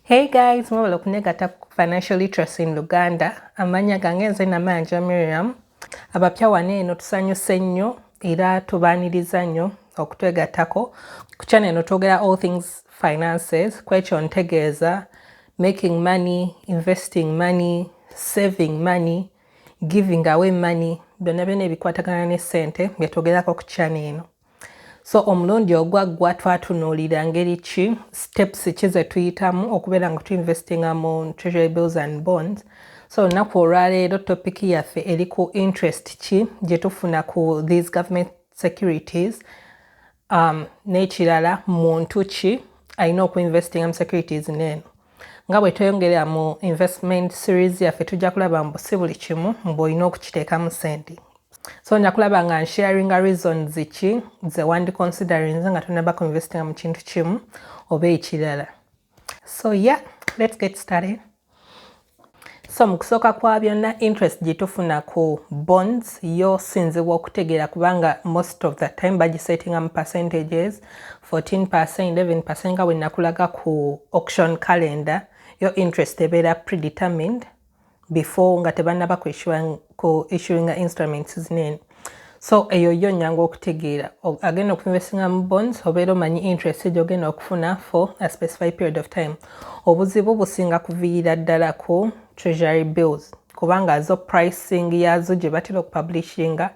Hey guys, mwebale okunegata ku Financial Literacy in Luganda. Amanya gange nze namanja Miriam. Abapya wano eno tusanyuse nnyo era tubaaniriza nnyo okutwegattako ku channel eno twogera all things finances kwekyo ntegeeza making money investing money saving money giving away money byonna byonna ebikwatagana ne ssente byetwogerako ku channel eno so omulundi ogwaggwa twatunuulira ngeri ki steps ki ze tuyitamu okubeera nga tuinvestinga mu treasury bills and bonds so olunaku olwaleero topic yaffe eri ku interest ki gye tufuna ku these government securities um, n'ekirala muntu ki alina okuinvestinga mu securities neeno nga bwe tweyongera mu investment series yaffe tujja kulaba mbu si buli kimu mbu olina okukiteekamu sente so nja kulaba nga nsharinga reasons ki ze wandi considerinze nga tonaba ku investinga mu kintu kimu oba ekirala so yeah let's get started so mu kusooka kwa byonna interest gye tufuna ku bonds yo sinziwa okutegeera kubanga most of the time bagisettingamu percentages 14 percent 11 percent nga wenakulaga ku auction calendar yo interest ebeera predetermined before nga tebanaba ku issuing instruments zinene so eyo yo nyangu okutegeera agenda okuinvestinga mu bonds obeera omanyi interest gyogenda okufuna for a specified period of time obuzibu businga kuviira ddala ku treasury bills kubanga zo pricing yazo gye batera okupublishinga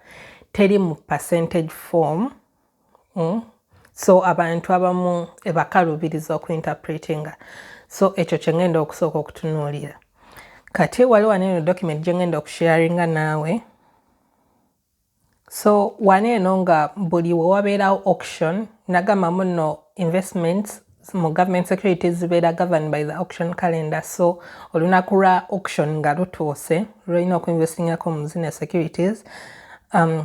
teri mu percentage form mm? so abantu abamu ebakalubiriza okuinterpretinga so ekyo kyengenda okusooka okutunuulira kati wali wano eno document gyengenda okusharinga naawe so wano eno nga buli wewabeerawo auction nagamba muno investments mu government security zibeera govern by the auction calendar so olunaku lwa auction nga lutuuse lulina okuinvestingako mu zino securities um,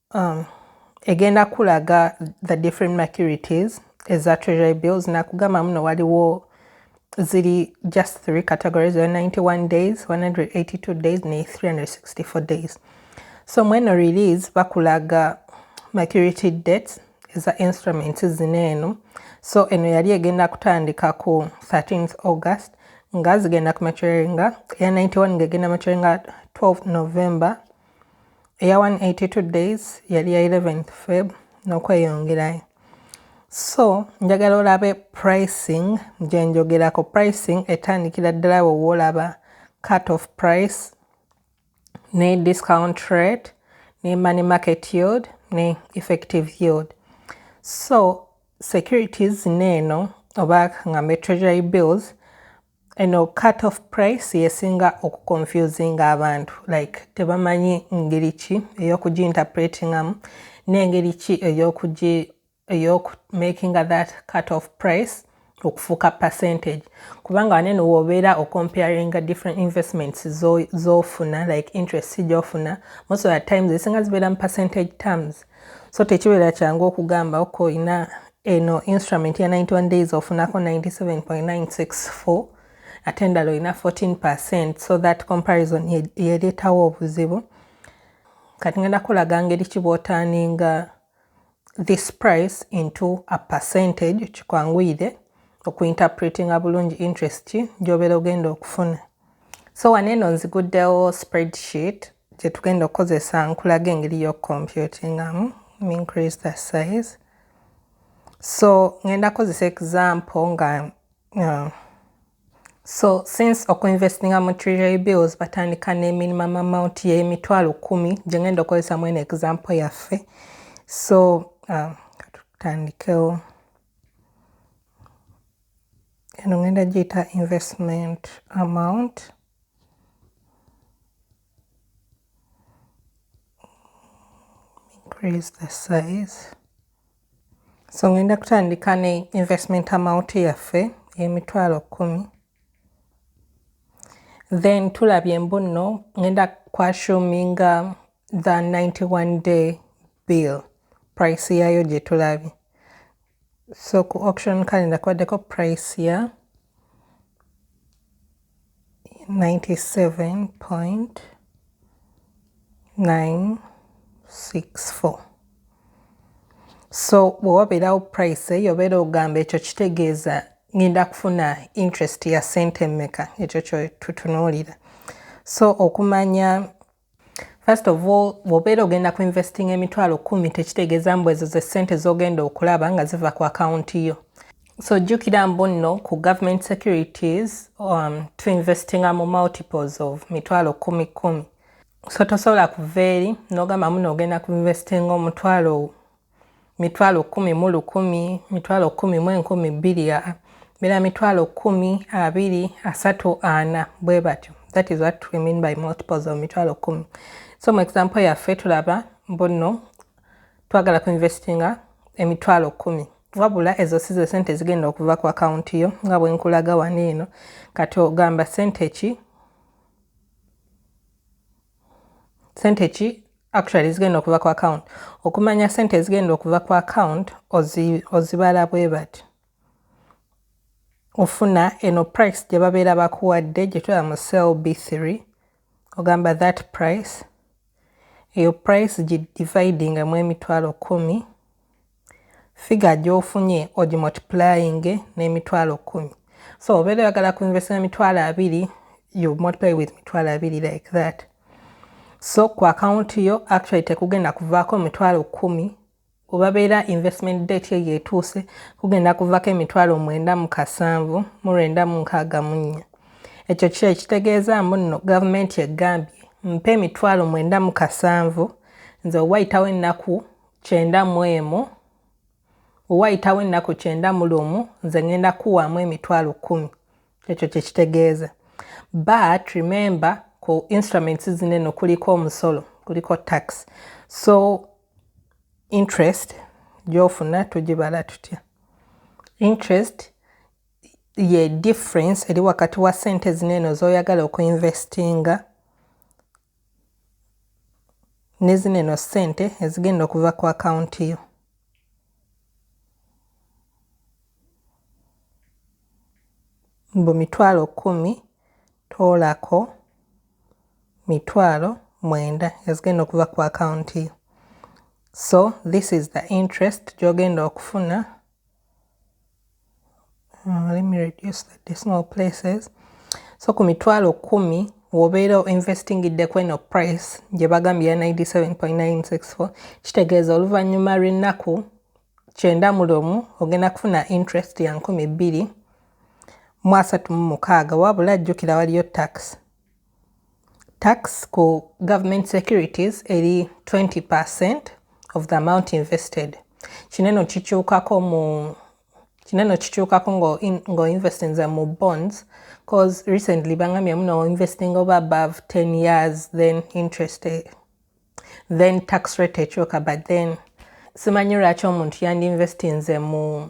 um, egenda kulaga the different maturities eza treasury bills nakugamba muno waliwo ziri just three categories 91 days 182 days ne 364 days so mweno release bakulaga maturity dates eza instruments zino eno so eno yali egenda kutandika ku 13th august nga zigenda ku maturinga eya 91 nga egenda maturinga 12 november eya 182 days yali ya 11th feb n'okweyongerayo so njagala olabe pricing gyenjogerako pricing etandikira ddala we woolaba cut of price ne discount rate ne money market yield ne effective yield so securities neeno oba ngambe treasury bills Eno cut off price yesinga oku confusinga abantu like tebamanyi ngeri ki eyokugi interpretingamu nengeri ki eyokugi eyoku makinga that cut off price okufuuka percentage kubanga waneno wobeera ocomparinga different investments zofuna like interest gyofuna most of the times ezisinga zibeera mu percentage terms so tekibeera kyangu okugamba ok olina eno instrument ya 91 days ofunako 97.964 ate endala olina 14 percent so that comparison yereetawo obuzibu kati ngenda kulaga ngeri ki bwotaninga this price into a percentage kikwanguyire okuinterpretinga bulungi interest ki gyobeera ogenda okufuna so wano eno nziguddewo spreadsheet gye tugenda okukozesa nkulaga engeri y'okucomputingamu increase the size so ngenda kozesa example nga uh, so since okuinvestinga mu treasury bills batandika ne minimum amount y'emitwalo kumi gye ngenda okukozesa mwene example yaffe so uh, katutandikewo eno ngenda giyita investment amount increase the size so ngenda kutandika ne investment amount yaffe emitwalo kumi then tulabye mbuno ngenda kwashuminga the 91 day bill price yayo gyetulabye so ku auction calendar kwaddeko price ya 97.964 so bwe wabeerawo price eyo obeera ogamba ekyo kitegeeza ngenda kufuna interest ya sente mmeka ekyo kyotutunuulira so okumanya First of all, bwobeera ogenda ku investing emitwalo kumi tekitegeeza mbu ezo ze ssente z'ogenda okulaba nga ziva ku akawunti yo. So jjukira mbu nno ku government securities um, to investinga mu multiples of mitwalo kumi kumi. So tosobola kuva eri n'ogamba muno ogenda ku investinga omutwalo mitwalo kkumi mu lukumi, mitwalo kkumi mu enkumi bbiri, mira mitwalo kkumi, abiri, asatu, ana, bwe batyo. That is what we mean by multiples of mitwalo kkumi. So mu example yaffe tulaba mbuno twagala ku investinga emitwalo kkumi wabula ezo si ze sente zigenda okuva ku akawunti yo nga bwe nkulaga wano eno kati ogamba sente ki sente ki actually ezigenda okuva ku account okumanya sente ezigenda okuva ku account ozibala bwe bati ofuna eno price gye babeera bakuwadde gye tuba mu cell b3 ogamba that price eyo price gi dividinga mu emitwalo kumi Figure gyofunye ogimultiplyinge n'emitwalo kkumi. So obeera oyagala ku invest na mitwalo abiri you multiply with mitwalo abiri like that. So ku account yo actually tekugenda kuvaako mitwalo kkumi obabeera investment date eyo etuuse kugenda kuvako emitwalo mwenda mu kasanvu mu lwenda mu nkaaga mu nnya ekyo kyo ekitegeeza mbu nno gavumenti egambye mpa emitwalo mwenda mu kasanvu nze owayitawo ennaku kyenda mu emu bwe wayitawo ennaku kyenda mu lumu nze ŋŋenda kuwaamu emitwalo kkumi ekyo kye kitegeeza but remember ku instruments zino eno kuliko omusolo kuliko tax so interest gyofuna tugibala tutya interest ye difference eri wakati wa sente zino eno zoyagala okuinvestinga ne zino eno ssente ezigenda okuva ku akawunti yo mbu mitwalo kkumi toolako mitwalo mwenda ezigenda okuva ku akawunti yo so this is the interest gy'ogenda okufuna Uh, let me reduce the decimal places so ku mitwalo kumi wobeera investingidde ku eno price gye bagambye ya 97.964 kitegeeza oluvannyuma lw'ennaku kyenda mu lumu ogenda kufuna interest ya nkumi bbiri mu asatu mu mukaaga wabula jjukira waliyo tax tax ku government securities eri 20 percent of the amount invested kino eno kikyukako mu kino eno kikyukako nga oinvestinze mu bonds cause recently bangambye muno oinvesting oba above 10 years then interest eh, then tax rate ekyuka but then simanyi lwaki omuntu yandi investinze mu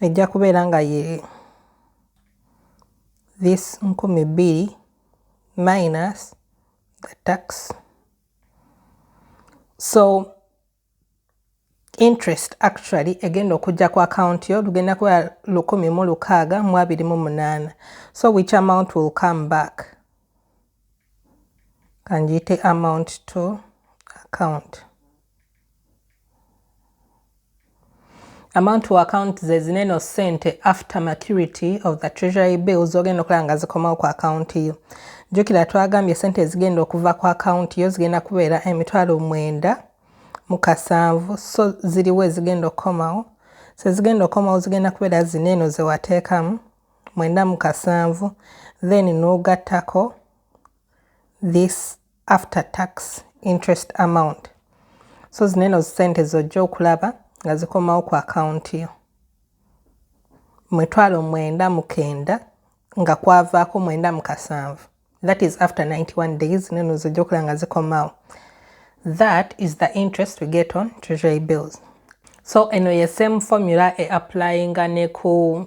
ejja kubeera nga ye this nkumi bbiri minus the tax so interest actually egenda okujja ku account yo lugenda kuba lukumi mu lukaaga mu abiri mu munaana so which amount will come back kanjiyite amount to account amount to account ze zineno sente after maturity of the treasury bill zogenda okulaba nga zikomawo ku account yo jukira twagambye sente ezigenda okuva ku account yo zigenda kubeera emitwalo mwenda mu kasanvu so ziriwo ezigenda okukomawo so ezigenda okukomawo zigenda kubeera zineno zewateekamu mwenda mu kasanvu then nogattako this after tax interest amount so zino eno zisente zojja okulaba nga zikomawo ku akawunti yo mwetwalo mwenda mukenda nga kwavaako mwenda mukasanvu that is after 91 days zino eno zojja okulaba nga zikomawo that is the interest we get on treasury bills so eno ye same formula e applyinga ne ku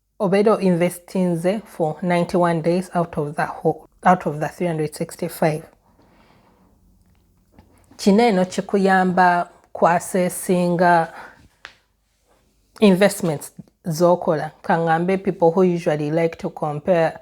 obeera o investinze for 91 days out of the, whole, out of the 365 kino eno kikuyamba kwasesinga investments zokola kangambe people who usually like to compare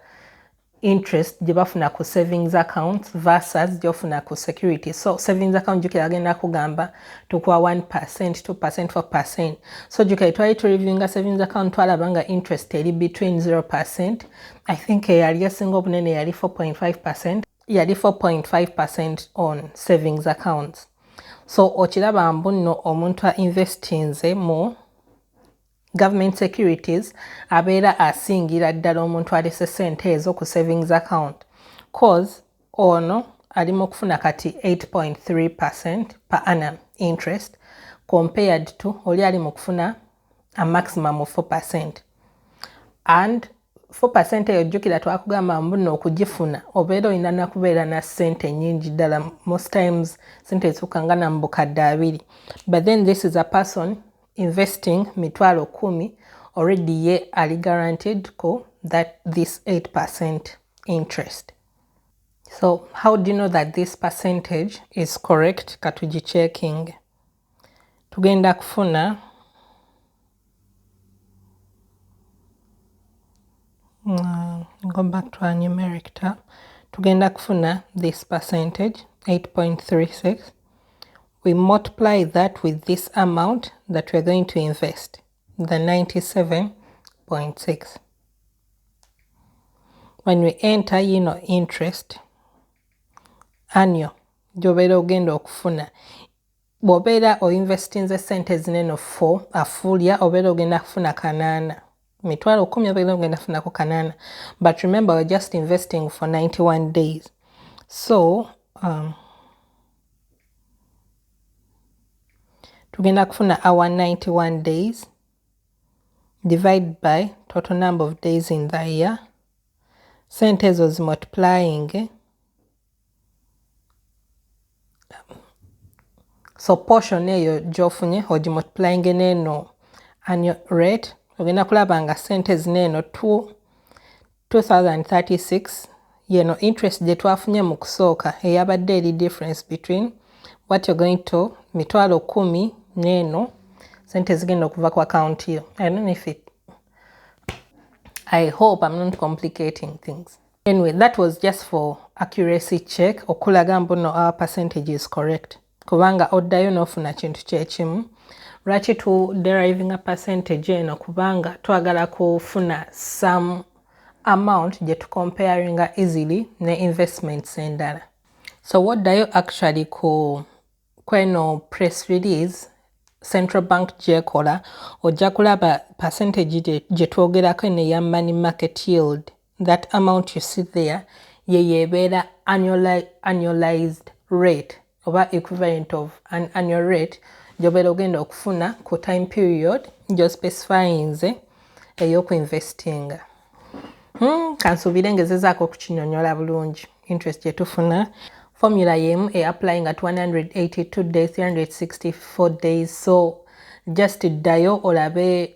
interest gye bafuna ku savings account versus gyofuna ku security so savings account jukira agenda kugamba tukuwa 1 percent 2 percent 4 percent so jukira twali tureviewinga savings account twalaba nga interest eri between 0 percent i think eyali esinga obunene yali 4.5 percent yali 4.5 percent on savings accounts so okiraba mbu nno omuntu a investinze mu Government securities abeera asingira ddala omuntu alese sente ezo ku savings account cause ono ali mu kufuna kati 8.3 percent per annum interest compared to oli ali mu kufuna a maximum of 4 percent and 4 percent eyo jjukira twakugamba mbuno okugifuna obeera olina nakubeera na sente nyingi ddala most times sente esuka nga na mubukadde abiri but then this is a person investing mitwalo kumi already ye ali guaranteed ko that this 8 percent interest so how do you know that this percentage is correct katuji checking tugenda kufuna mm, go back to our numeric tab tugenda kufuna this percentage 8.36 we multiply that with this amount that we're going to invest, the 97.6. When we enter, you know, interest, annual, gy'obeera ogenda okufuna bw'obeera oinvestinze sente zinene fo afuulya obeera ogenda kufuna kanaana mitwalo kumi oba ogenda funako kanana but remember we're just investing for 91 days so um, tugenda kufuna our 91 days divide by total number of days in the year sente ezo zimultiplying so portion eyo gyofunye ogimultiplyinge neeno annual rate ogenda kulaba nga sente zino eno 2036 yeno interest gye twafunye mu kusooka eyabadde eri difference between what you're going to mitwalo kumi neeno sente zigenda okuva ku account yo i don't know if it i hope i'm not complicating things Anyway, that was just for accuracy check okulaga mbuno our percentage is correct kubanga oddayo n'ofuna kintu kyekimu lwaki tu deriving a percentage eno kubanga twagala kufuna some amount gye tucomparinga easily ne investments endala so woddayo actually ku kweno press release central bank gyekola ojja kulaba percentage gye twogerako eno eya money market yield that amount you see there yeyo ebeera annualized rate oba equivalent of an annual rate gyobeera ogenda okufuna ku time period gyospecifyinze eyokuinvestinga hmm, kansuubire ngezezaako okukinyonyola bulungi interest gyetufuna formula yemu e applying at 182 days 364 days so just ddayo olabe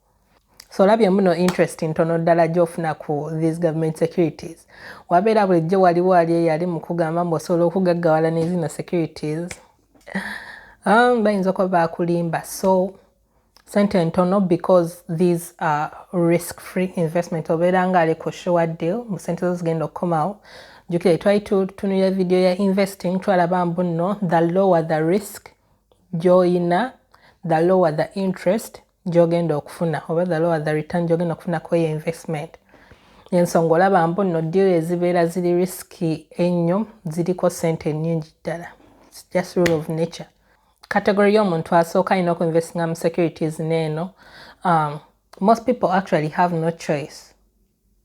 so olabye muno interest ntono ddala gyofuna ku these government securities wabeera bulijjo waliwo ali eyali mukugamba mbu osobola okugaggawala nezino securities um, bayinza okuba bakulimba so sente ntono because these are risk free investment obeera nga ali ku sure deal mu sente zo zigenda okukomawo jukira twali tutunulira video ya investing twalaba mbu nno the lower the risk gyoyina the lower the interest gyogenda okufuna oba the lower the return gyogenda okufuna kweyo investment ensonga olaba mbu no deal ezibeera ziri riski ennyo ziriko sente ennyingi ddala just rule of nature category y'omuntu asooka alina okuinvestinga mu securities neeno um, most people actually have no choice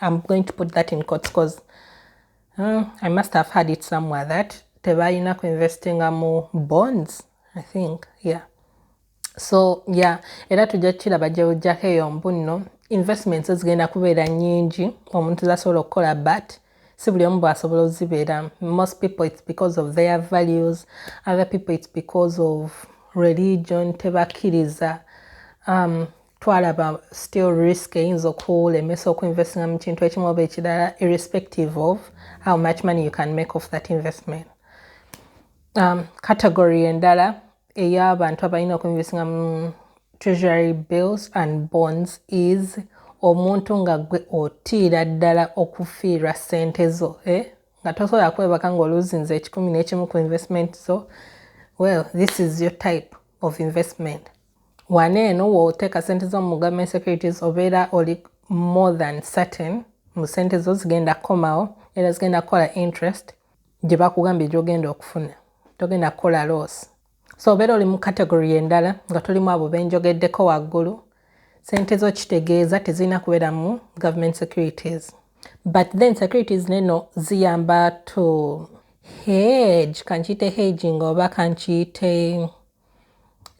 I'm going to put that in court because uh, I must have had it somewhere that tebalina ku investinga mu bonds I think yeah so yeah era tujja kukiraba gyewujjako eyo mbunno investments zigenda kubeera nyingi omuntu zasobola okukola but si buli omu bwasobola ozibeera most people it's because of their values other people it's because of religion tebakkiriza um, twalaba still risk eyinza okulemesa okuinvestinga mu kintu ekimu oba ekirala irrespective of how much money you can make of that investment um, category endala ey'abantu abalina okuinvestinga mu treasury bills and bonds is omuntu nga gwe otiira ddala okufiirwa sente zo eh? nga tosobola kwebaka ngaoluzinza ekikumi n'ekimu ku investment zo well this is your type of investment wano eno woteeka sente zo mu government securities obeera oli more than certain mu sente zo zigenda kukomawo era zigenda kukola interest gye bakugambye gyogenda okufuna togenda kukola loss so obeera oli mu category endala nga tolimu abo benjogeddeko waggulu sente zo kitegeeza tezirina kubeera mu government securities but then securities neno ziyamba to hedge kankiyite hedging oba kankiyite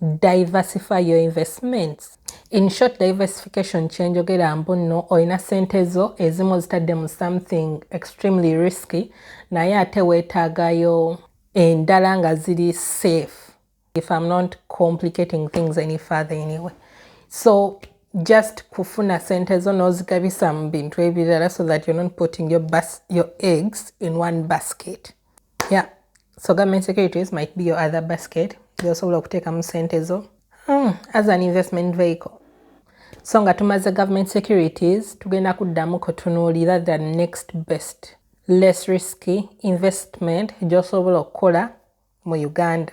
diversify your investments in short diversification kyenjogera mbu nno olina sente zo ezimu ozitadde mu something extremely risky naye ate weetaagayo endala nga ziri safe if im not complicating things any father anyway so just kufuna sente zo n'ozigabisa mu bintu ebirala so that you're not putting your, bas your eggs in one basket yeah so government securities might be your other basket gyosobola okuteekamu sente zo hmm, as an investment vehicle so nga tumaze government securities tugenda kuddamu kutunuulira the next best less risky investment gyosobola okukola mu uganda